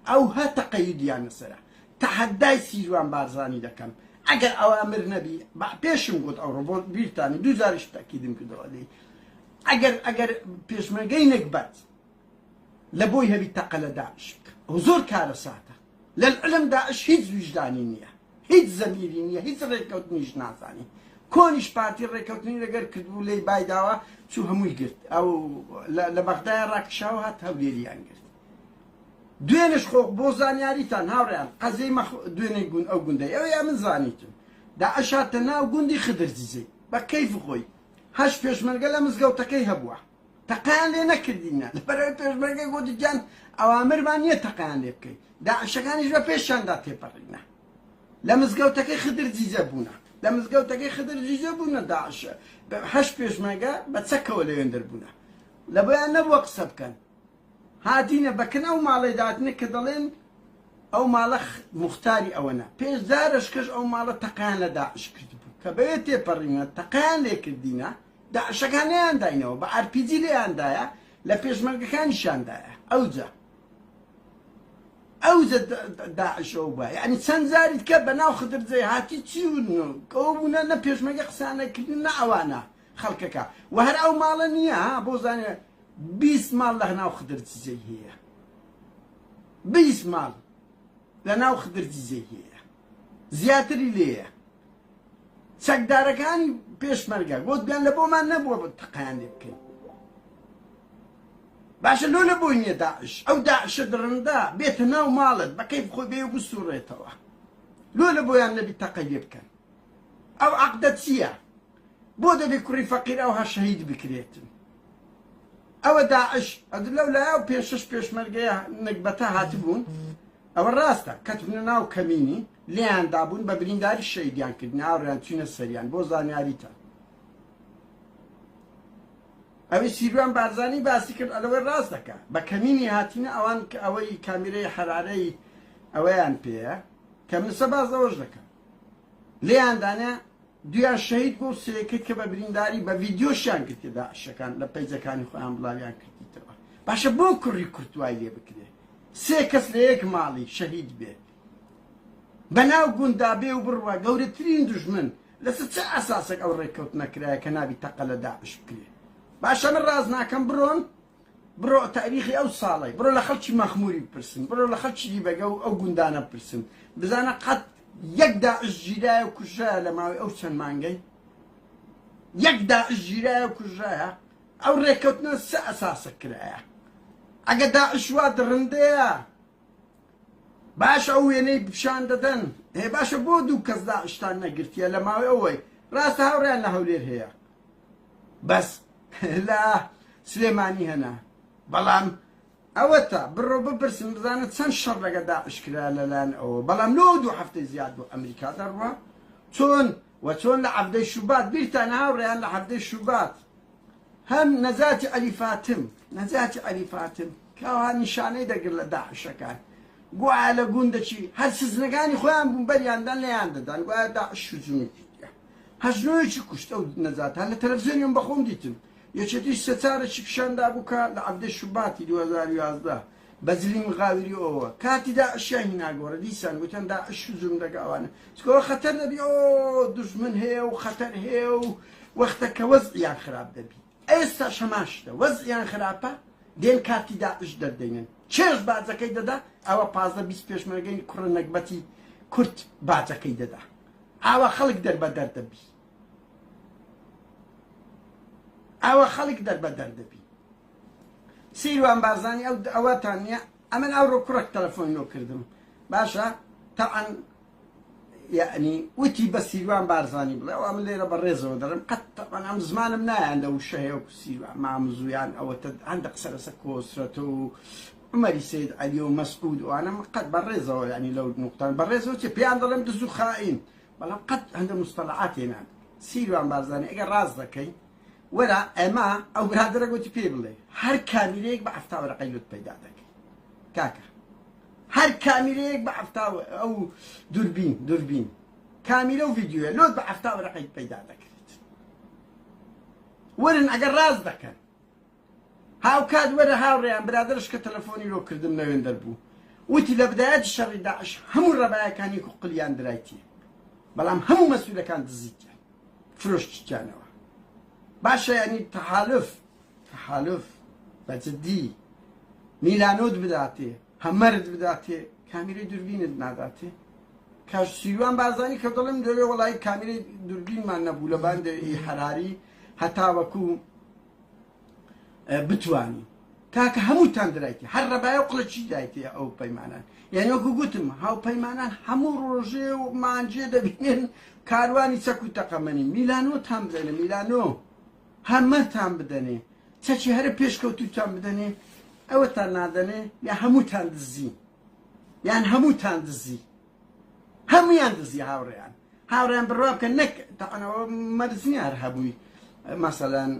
ئەوها تەقەیودیان لەسەرە. تەحەدای سیروان بارزانی دەکەم ئەگەر ئەوامر نەبی بە پێشم گۆت ئەو ڕۆ بیرتانە دوو جاریش تەکیدم کردەوە لێی ئەگەر ئەگەر پێشمەرگەی نەگبەت لە بۆی هەبی تەقە لە داعش بکە ئەو زۆر کارە ساتە لە العلم داعش هیچ ویژدانی نییە هیچ زەمیری نییە هیچ ڕێککەوتنیش نازانی کۆنیش پارتی ڕێککەوتنی لەگەر کردبوو لێی بایداوە چوو هەمووی گرت ئەو لە بەغدای ڕاکشاو هات هەولێریان گرت دوێنێش خۆ بۆ زانیاریتان هاوڕێیان قەزێی مەخ دوێنێ گوند ئەو گوندەی ئەوێ ئەمن زانیتم داعش هاتە ناو گوندی خدر زیزەی بە کەیف خۆی هەشت پێشمەرگە لە مزگەوتەکەی هەبووە تەقیان لێ نەکردینە لەبەرەوەی پێشمەرگە گوتی گیان ئەوامرمان نییە تەقیان لێ بکەین داعشەکانیش بە پێشیاندا تێپەڕینە لە مزگەوتەکەی خدر زیزە بوونە لە مزگەوتەکەی خدر زیزە بوونە داعشە هەشت پێشمەرگە بە چەکەوە لەوێن دەربوونە لە بۆیان نەبووە قسە بکەن هاتینە بەکن ئەو ماڵەی داتنە کە دەڵێن ئەو ماڵە موختاری ئەوەنە، پێش زارەشکەش ئەو ماڵە تەقەیان لە داعش کردبوو، کە بەوێ تێپەڕیونە تەقەیان لێ کردینە، داعشەکان نەیانداینەوە، بە ئارپیجی لێیان دایە، لە پێشمەرگەکانیشیان دایە، ئەوجە ئەوجە داعش ئەو بووە، یەعنی چەند جاری دیکە بەناو خدرجەی هاتی چیون و ئەوە بوونە، نە پێشمەرگە قسەیان نەکردوون نە ئەوانە، خەڵکەکە وە هەر ئەو ماڵە نیە ها بۆ زانێ بیست ماڵ لە ناو خدر جزەی هەیە بیست ماڵ لە ناو خدر جزەی هەیە زیاتری لێیە چەکدارەکانی پێشمەرگە گوتیان لە بۆمان نەبووە بە تەقیان لێ بکەین باشە لۆ لە بۆی نیە داعش ئەو داعشە دڕندا بێتە ناو ماڵت بە کەیف خۆی بێ و بسوڕێتەوە لۆ لە بۆیان نەبی تەقەی لێ بکەن ئەو عەقدە چییە بۆ دەبێ کوڕی فەقیر ئەوها شەهید بکرێتن ئەوە داعش ئەد لەو لایە و پێ شش پێشمەرگەیە نەگبەتە هاتبوون ئەوە ڕاستە کەتبنە ناو کەمینی لیان دابوون بە برینداری شەیدیان کرد ناوریان چینە سەریان بۆ زانیاریتە ئەوی سیروان بارزانانی باسی کرد ئەلەوەی ڕاست دەکە بە کەمینی هاتینە ئەوان کە ئەوەی کامیرەی حرارەی ئەوەیان پێەیە کە منسە باز ئەوەش دەکە لێیاندانە دویان شەهید بوون، سێیەکەی کە بە برینداری بە ڤیدیۆشیان گرتیە داعشەکان لە پەیجەکانی خۆیان بڵاویان کردیتەوە، باشە بۆ کوڕی کورد وای لێ بکرێ سێ کەس لە یەک ماڵی شەهید بێ بە ناو گونددا بێ و بڕوا گەورەترین دوژمن لەسەر چ ئەساسێک ئەو ڕێککەوتنە کرایە کە نابی تەقە لە داعش بکرێ باشە من ڕاست ناکەم بڕۆن بڕۆ تاریخی ئەو ساڵەی بڕۆ لە خەڵکی مەخموری بپرسن بڕۆ لە خەڵکی دیبەگە و ئەو گوندانە بپرسن بزانە قەت یەک داعش گیرایە و کوژرایە لە ماوەی ئەو چەند مانگەی یەک داعش گیرایە و کوژرایە ئەو ڕێککەوتنە سە ئەساسە کرایە ئەگە داعش وا دڕندەیە باش ئەو وێنەی پیشان دەدەن هێ باشە بۆ دوو کەس داعشتان نەگرتیە لە ماوەی ئەوەی ڕاستە هاوڕیان لە هەولێر هەیە بەس لە سلێمانی هەنە بەڵام ئەوەتا بڕۆ بپرسن بزانە چەند شەڕ لەگە داعش کرا لەلایەن ئەوە بەڵام لۆ دوو هەفتەی زیاد بۆ ئەمریکا دەڕوا چۆن و چۆن لە عەبدەی شوبات بیرتان هاوڕێیان لە هەفتەی شوبات هەم نەجاتی عەلی فاتم نەجاتی عەلی فاتم کاوا نیشانەی دەگر لە داعشەکان گوایە لە گوندەکی هەر سزنەکانی خۆیان بوون بەریاندان لەیان دەدان گوایە داعش شوجومی کردیان هەزنۆیەکی کوشت ئەو نەجاتە لە تەلەفزیۆنی من بەخۆم دیتم یەکێتیش سەرچارەکی پیشان دابوو کە لە عەڤدەی شوباتی دوو هەزار و یازدە بە زلی مغاوری ئۆوە کاتی داعشیان هینا گۆڕێ دیسان گوتیان داعش و زومرەگە ئەوانە چکەوە خەتەر دەبی ئۆ دوژمن هەیە و خەتەر هەیە و وەختە کە وەزعیان خراپ دەبی ئێستا هەمان شتە وەزعیان خراپە دێن کارتی داعش دەردەینن چێش باجەکەی دەدا ئەوە پازدە بیست پێشمەرگەی کوڕە نەگبەتی کورد باجەکەی دەدا ئاوا خەڵک دەربەدەر دەبی ئاوا خەڵک دەربەدەر دەبی سیروان بارزانی ئەو ئەوەتان نییە ئەمن ئەو ڕۆ کوڕک تەلەفۆن لۆ کردم باشە تاعەن یعنی وتی بە سیروان بارزانی بڵێ ئەم لێرە بە ڕێزەوە دەڵم قەت تەعەن ئەم زمانم نایان لە وشەیە و سیروان مامزویان ئەوەتە هەندە قسە لەسە کۆسرەتە و عومەری سەید عەلی و مەسعود و ئانە من قەت بە ڕێزەوە یانی لەو نوقتان بە ڕێزەوە چیە پێیان دەڵێم دز و خائین بەڵام قەت هەندە مستەڵەعات تێنان سیروان بارزانی ئەگەر ڕاست دەکەی وەرە ئەمە ئەو برادرە گوتی پێ بڵێ هەر کامیرەیەک بە عەفتا وەرەقەی لوت پەیدا دەکەی کاکە هەر کامیرەیەک بە عەفتا ئەو دوربین دوربین کامیرە و ڤیدیوە لۆت بە عەفتا وەرەقەی پەیدا دەکرێت وەرن ئەگەر ڕاست دەکەن هاوکات وەرە هاوڕێیان برادەرش کە تەلەفۆنی لۆ کردم نەوێندەر بوو وتی لە بدایەتی شەڕی داعش هەموو ڕەبایەکانی قلیان درایتی بەڵام هەموو مەسولەکان دزیتیان فرۆشتیانەوە باشە یعنی تەحالف تەحالف بە جدی میلانۆت بداتێ هەمەرت بداتێ کامیرەی دوربینت ناداتێ کاش سیروان بازانی کە دەڵم دەوێ وڵی کامیرەی دوربینمان نەبوو لە باندەوەی حراری هەتاوەکو بتوانی کاکە هەمووتان درایتی هەر ڕەبایە و قڵەچی درایتی ئەو پەیمانان یعنی وەکو گوتم هاوپەیمانان هەموو ڕۆژێ و مانجێ دەبینێن کاروانی چەک و تەقەمەنی میلانۆ تام بدەنێ میلانۆ هەمەتان بدەنێ چەکی هەرە پێشکەوتوتان بدەنێ ئەوەتان نادەنێ یا هەمووتان دزی یان هەمووتان دزی هەمویان دزی هاوڕێیان هاوڕێیان بڕوا بکەن نەک تەعەنەوە مەرزنی هەر هەبووی مەسەلەن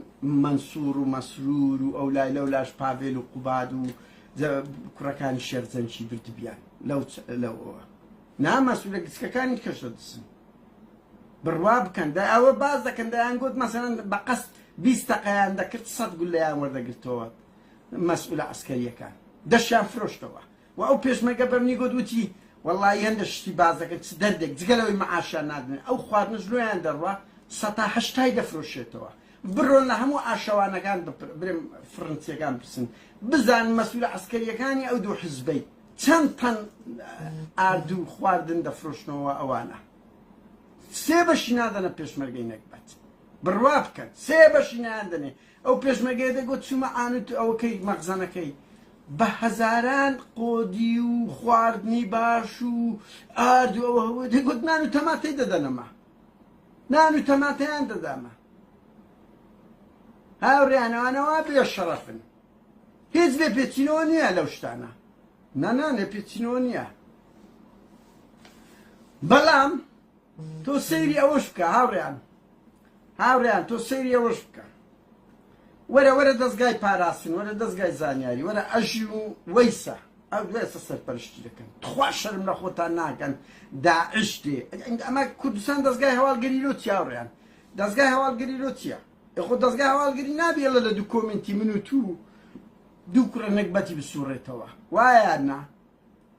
مەنسوور و مەسرور و ئەو لای لەو لاش پاڤێل و قوباد و کوڕەکانی شێخ جەنگی بردبیان لەو لەوەوە نامەسوولە گچکەکانی کەشە دسن بڕوا بکەن دا ئەوە باز دەکەن دەیان گوت مەسەرەن بە قەست بیست تەقەیان دەکرد سەد گولیان وەردەگرتەوە مەسئولە ئەسکەریەکان دەشیان فرۆشتەوە وە ئەو پێشمەرگە بەمنی گوت وتی وەڵایی هەندە شتی باس دەکەن چ دەردێک جگە لەوەی مەعاشیان نادنێ ئەو خواردنەش لۆیان دەڕوا سەتا هەشتای دەفرۆشێتەوە بڕۆن لە هەموو ئاشەوانەکان برێم فرنسیەکان پرسن بزان مەسولە عسکەریەکانی ئەو دوو حزبەی چەند تەن ئاردو خواردن دەفرۆشنەوە ئەوانە سێ بەشی نادەنە پێشمەرگەی نەکبەت بڕوا بکەن سێ بەشی نایان دەنێ ئەو پێشمەرگەیە دەگوت چوومە عانوت ئەوکەی مەخزەنەکەی بە هەزاران قۆدی و خواردنی باش و ئارد و ئەوە هەبوو دەگوت نان و تەماتەی دەدەنەما نان و تەماتەیان دەدامە هاوریانەوانەوە بێ شەڕەفن هیچ لێ پێچینەوە نییە لەو شتانە نانا لێ پێچینەوە نییە بەڵام تۆ سەیری ئەوەش بکە هاوڕێیان هاوڕێیان تۆ سەیری ئەوەش بکە وەرە وەرە دەستگای پاراستن وەرە دەستگای زانیاری وەرە ئەژین و وەیسە ئەو دوێسە سەرپەرشتی دەکەن تخوا شەرم لە خۆتان ناکەن داعش دێ ئەمە کوردستان دەستگای هەواڵگری لۆ چیاوڕیان دەستگای هەواڵگری لۆ چییە خۆ دەستگای هەواڵگری نابێ لە لە دوو کۆمنتی من و تو دوو کوڕە نەگبەتی بسوڕێتەوە وایە نا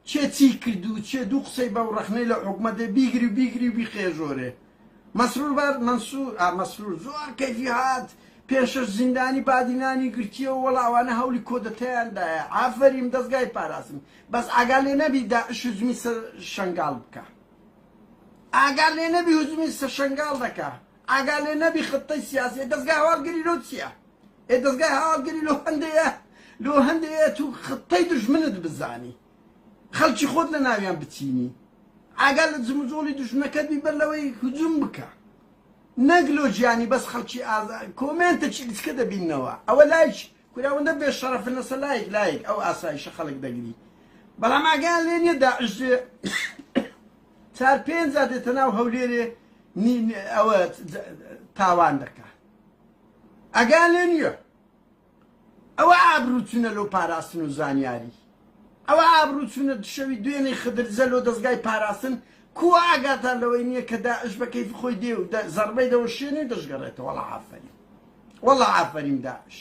کێ چی کردو چێ دوو قسەی بەو ڕەخنەی لەو حوکمە دێ بیگری و بیگری و بیقێژۆرێ مەسرور بار مەنسور ئا مەسرور زۆر کەیفی هات پێنج شەش زیندانی بادی نانی گرتیەوە وەڵا ئەوانە هەولی کۆدەتایان دایە ئافەریم دەزگای پاراستن بەس ئاگا لێ نەبی داعش هجومی سەر شەنگال بکا ئاگا لێ نەبی هجومی سەر شەنگال دەکا ئاگا لێ نەبی خطەی سیاسیە دەزگا هەواڵگری لۆ چیە ئێ دەزگای هەواڵگری لۆ هەندەیە لۆ هەندەیە تو خطەی دژمنت بزانی خەڵکی خۆت لە ناویان بچینی ئاگا لە جموجۆڵی دژمنەکەت بی بەر لەوەی هجوم بکە نەک لۆ گیانی بەس خەڵکی ئازا کۆمێنتەکی گچکە دەبینەوە ئەوە لایک کوراوەندە بێ شەڕەفن لەسە لایک لایک ئەو ئاسایشە خەڵک دەگری بەڵام ئاگیان لێ نیە داعش چار پێنج دێتە ناو هەولێرێ ئەوە تاوان دەکە ئەگا لێ نیە ئەوە ئابرو چونە لۆ پاراستن و زانیاری ئەوە ئابرو چونە دشەوی دوێنی خدر زە لۆ دەزگای پاراستن کووە ئاگاتان لەوەی نیە کە داعش بە کەیف خۆی دێ و دە زەڕبەی دەوە شێنی و دەشگەڕێتە وەڵا ئافەرین وەڵا ئافەرین داعش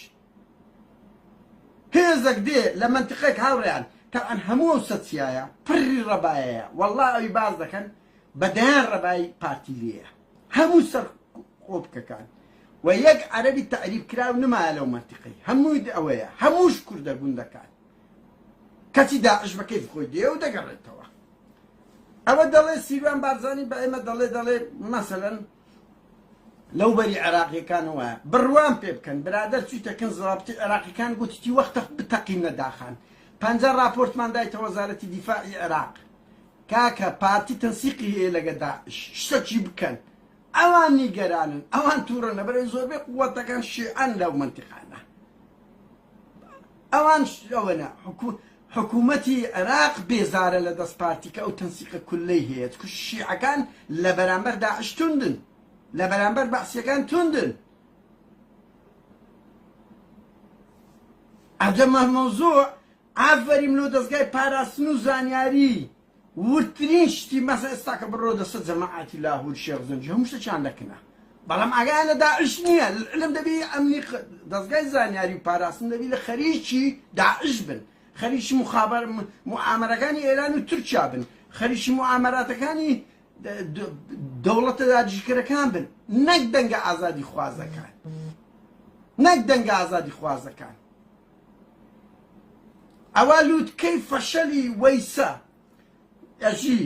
هێزەک دێ لە مەنتقێک هاوڕێیان تەعەن هەموو ئەو سە چیایە پڕی ڕەبایەیە وەڵا ئەوی باز دەکەن بە دەیان ڕەبای پارتی لێیە هەموو سەرقۆپکەکان و یەک عەرەبی تەعریب کراو نمایە لەو مەنتیقەی هەمووی ئەوەیە هەمووش کوردە گوندەکان کەچی داعش بە کەیف خۆی دێ و دەگەڕێتەوە ئەوە دەڵێ سیروان بارزانی بە ئێمە دەڵێ دەڵێ مەسەلەن لەو بەری عێراقیەکان وایە بڕوان پێ بکەن برادەر چیتەکەن زڵابتی عێراقیەکان گوتیی وەختە بتەقینە داخان پەنجە راپۆرتمان دایتە وەزارەتی دیفاعی عێراق کاکە پارتی تەنسیقی هەیە لەگە داعش شتە چی بکەن ئەوان نیگەرانن ئەوان تورە نەبەرێ زۆربەی قووەتەکان شیعەن لەو منتیقانە ئەوان ئەوەنە حکووم حکوومەتی عێراق بێزارە لە دەست پارتی کە ئەو تەنسیقە کولەی هەیە کوش شیعەکان لە بەرامبەر داعش توندن لە بەرامبەر بەعسیەکان توندن عجب مهموزوع ئافەریم لۆ دەزگای پاراستن و زانیاری وردترین شتی مەسە ئێستاکە بڕۆ دەسە جەماعەتی لاهور شێخ زەنگی هەموو شتەکیان لە کنە بەڵام ئاگایان لە داعش نیە العلم دەبی ئەمنی دەزگای زانیاری و پاراستن دەبی لە خەریکی داعش بن خەریکی مخابر معامرەکانی ئێران و تورکیا بن خەریکی معامراتەکانی دەوڵەتە داگیرکەرەکان بن نەک دەنگە ئازادی خوازەکان نەک دەنگە ئازادی خوازەکان ئەوە لوتکەی فەشەلی وەیسە ئەژی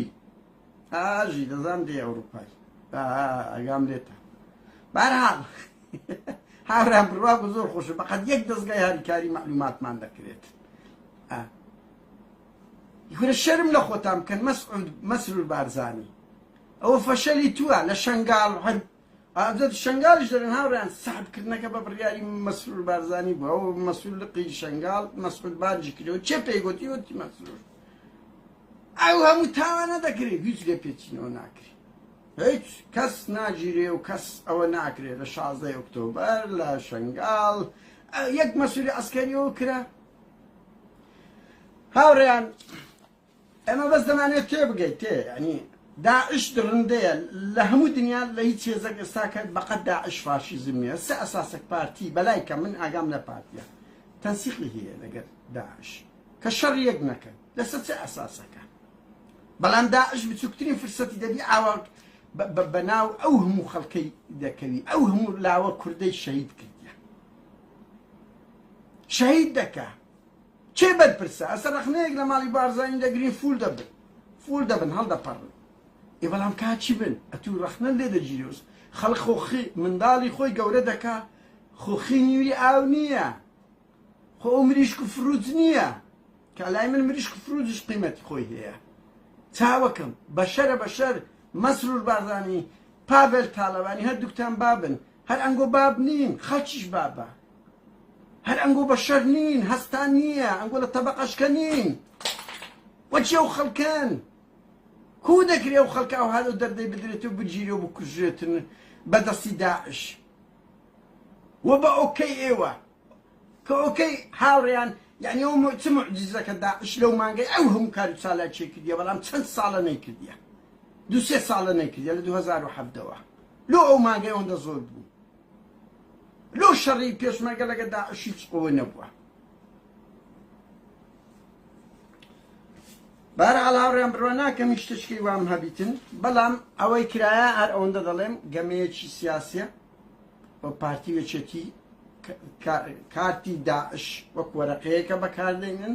ئاژی دەزان دێ ئەوروپای ئەگام لێتە بارحاڵ هاوران بڕوا بە زۆر خۆشە بەقەت یەک دەستگای هاریکاری معلوماتمان دەکرێت گورە شەرم لە خۆتان بکەن مەسعود مەسرور بارزانی ئەوە فەشەلی تووە لە شنگال هەر ئازادی شەنگالیش دەڵێن هاوڕێیان سەحب کردنەکە بە بڕیاری مەسرور بارزانی بووە و مەسرور لقی شەنگال مەسعود بانجی کردەوە چێ پێی گوتی وتی مەسرور ئەو هەموو تاوانە دەکرێت هیچ لێ پێچینەوە ناکرێت هیچ کەس ناگیرێ و کەس ئەوە ناکرێت لە شازدە ئۆکتۆبەر لە شنگال یەک مەسووری ئەسکەریەوە کرا هاوڕێیان ئێمە بەس دەمانەوێت تێبگەیت تێ یانی داعش دڕندەیە لە هەموو دنیا لە هیچ هێزەک ئێستا کە بەقەت داعش فاشیزم نیە سە ئەساسەک پارتی بەلای کە من ئاگام لە پارتیە تەنسیقی هەیە لەگەر داعش کە شەڕ یەک نەکەن لەسەر چ ئەساسەکە بەڵام داعش بچووکترین فرسەتی دەبی ئاواک بە ناو ئەو هەموو خەڵکەی دەکەوی ئەو هەموو لاوە کوردەی شەهید کردە شەهید دەکە کێ بەرپرسە ئەسە رەخنەیەک لە ماڵی بارزانی دەگرین فول دەبن فول دەبن هەڵدەپەڕن ئێ بەڵام کا چی بن ئەتوو رەخنە لێ دەگیرێوس خەڵک خۆ خی منداڵی خۆی گەورە دەکا خۆ خی نیوی ئاو نییە خۆ ئەو مریشک و فروت نییە کە لای من مریشک و فروتش قیمەتی خۆی هەیە چاوەکەم بەشەرە بەشەر مەسرور بارزانی پاڤێل تاڵەبانی هەردووکتان بابن هەر ئەنگۆ باب نین خەڵکیش بابە هەر ئەنگۆ بەشەر نین هەستان نییە ئەنگۆ لە تەبقەشکە نین وەچی ئەو خەڵکەن کو دەکرێ و خەڵکە ئەو هەلو دەردەی بدرێت و بگیری و بکوژێتن بەدەستی داعش و بە ئۆکەی ئێوە کە ئۆکەی هاوڕیان یعنی ئەو چ معجزە کە داعش لەو مانگەی ئەو هەموو کار و چالاکی کردیە بەڵام چەند ساڵە نەیکردیە دو سێ ساڵە نەیکردیە لە 2017ەوە لۆ ئەو مانگەی ئەوەندە زۆر بوو لۆ شەڕی پێشمەرگە لەگە داعش هیچ ئەوە نەبووە بار علاوڕیان بڕوە ناکەم هیچ تشکی وام هەبیتن بەڵام ئەوەی کرایە هەر ئەوەندە دەڵێم گەمەیەکی سیاسە بۆ پارتی وێچێتی کارتی داعش وەک وەرەقەیەکە بەکاردێنن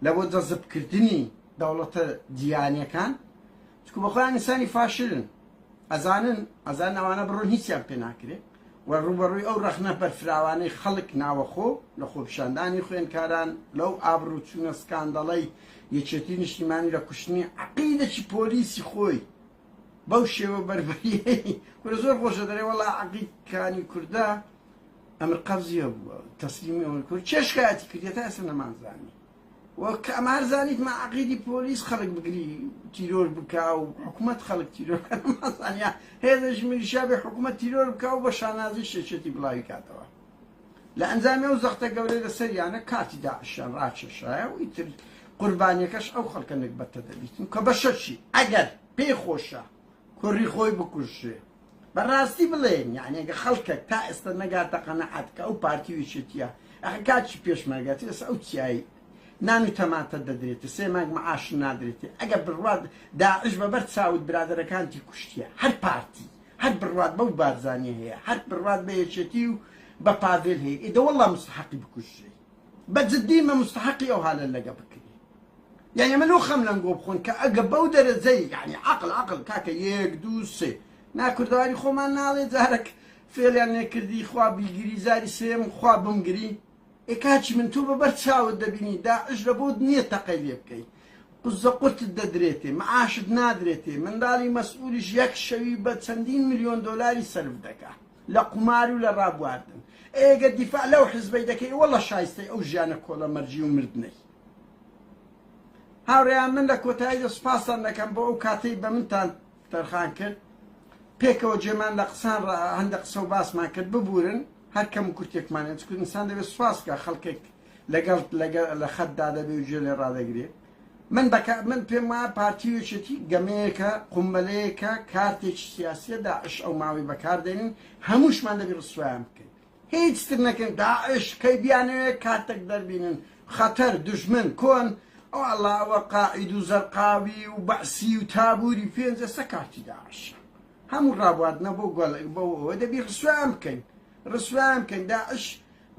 لە بۆ جەزبکردنی دەوڵەتە دیانەکان چونکو بەخۆیان ئینسانی فاشلن ئەزانن ئەزانن ئەوانە بڕۆن هیچیان پێ ناکرێ و ڕوبەڕووی ئەو ڕەخنە بەرفراوانەی خەڵک ناوەخۆ لە خۆپیشاندانی خوێنکاران لەو ئابڕوو چوونە سکاندەڵەی یەکێتی نیشتیمانی لە کوشتنی عەقیدەکی پۆلیسی خۆی بەو شێوە بەربەریەی کورە زۆر خۆشە دەرێ وەڵا عەقیدکانی کوردە ئەمر قەبزیە بووە تەسلیمی ئەوەی کورد چێشکایەتی کردێتە ئەسە نەمانزانی وە کە ئەمار زانیت ما عەقیدی پۆلیس خەلک بگری تیرۆر بکا و حکومەت خەلک تیرۆر بکا ما زانیا هێزش میلیشیا بێ حکومەت تیرۆر بکا و بە شانازی شێچێتی بلاوی کاتەوە لە ئەنجامی ئەو زەختە گەورەی لە سەریانە کارتی داعشیان راکێشایە و ئیتر قوربانیەکەش ئەو خەلکە نەگبەتە دەبیت و کە بەشەرشی ئەگەر پێی خۆشە کوری خۆی بکوژێ بە ڕاستی بڵێن یانی ئەگە خەڵکەک تا ئێستا نەگاتە قەنەعات کە ئەو پارتی و یەکێتیە ئەخە کاچی پێشمەرگەتی ئێستا ئەو چیایی نان و تەماتە دەدرێتێ سێ مانگ معاش نادرێتێ ئەگە بڕوات داعش بە بەر چاوت برادەرەکانتی کوشتیە هەر پارتی هەر بڕوات بەو بارزانیە هەیە هەر بڕوات بە یەکێتی و بە پاڤێل هەیە ئیدە وەڵا مستحقی بکوژرێ بە جدی مە مستحقی ئەو هالە لەگە بکرێ یانی من و خەم لەم گۆ بخۆن کە ئەگە بەو دەرەجەی یانی عقل عقل کاکە یەک دوو سێ نا کوردەواری خۆمان ناڵێ جارەک فێلیان نێکردی خوا بیگری جاری سێم خوا بمگری ئێ کاچی من تۆ بە بەر چاوت دەبینی داعش لە بۆت نییە تەقەی لێ بکەی قزە قورتت دەدرێتێ معاشت نادرێتێ منداڵی مەسئولیش یەک شەوی بە چەندین ملیۆن دۆلاری سەرف دەکا لە قومار و لە ڕابواردن ئێگە دیفاع لەو حزبەی دەکەی وەڵە شایستەی ئەو ژیانە کۆڵە مەرجی و مردنەی هاوڕێیان من لە کۆتاییدا سوپاستان دەکەم بۆ ئەو کاتەی بە منتان تەرخان کرد پێکەوە جێمان لە قسان ڕا هەندە قسە و باسمان کرد ببورن هەر کەم و کورتێکمان چکو ئینسان دەبێت سوپاس بکە خەڵکێک لەگەڵ لە خەتدا دەبێ و گوێ لێ ڕادەگرێ من بەکە من پێم وایە پارتی و یەکێتی گەمەیەکە قومبەلەیەکە کارتێکی سیاسیە داعش ئەو ماوەی بەکاردێنین هەمووشمان دەبی ڕسوایان بکەین هیچ تر نەکەن داعش کەی بیانەوێ کاتەک دەربینن خەتەر دوژمن کۆن ئەو ئەڵا ئەوە قاعید و زەرقاوی و بەعسی و تابوری پێنج ئەسە کارتی داعشە هەموو ڕابواردنە بۆ گۆل بۆ ئەوە دەبی ڕسویان بکەین ڕسویان بکەین داعش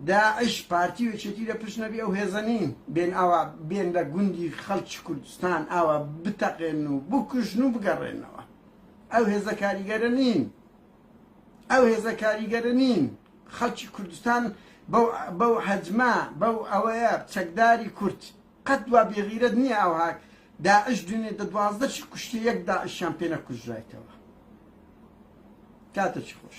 داعش پارتی و چێتی لە پشت نەبی ئەو هێزەنین بێن ئاوا بێن لە گوندی خەڵکی کوردستان ئاوا بتەقێن و بکوژن و بگەڕێنەوە ئەو هێزە کاریگەرە نین ئەو هێزە کاریگەرە نین خەڵکی کوردستان بەو بەو حەجمە بەو ئەوەیە چەکداری کورد قەت وا بێغیرەت نییە ئەوها داعش دونێ دە دوازدەشی کوشتی یەک داعشیان پێ نەکوژرایتەوە کاتێکی خۆش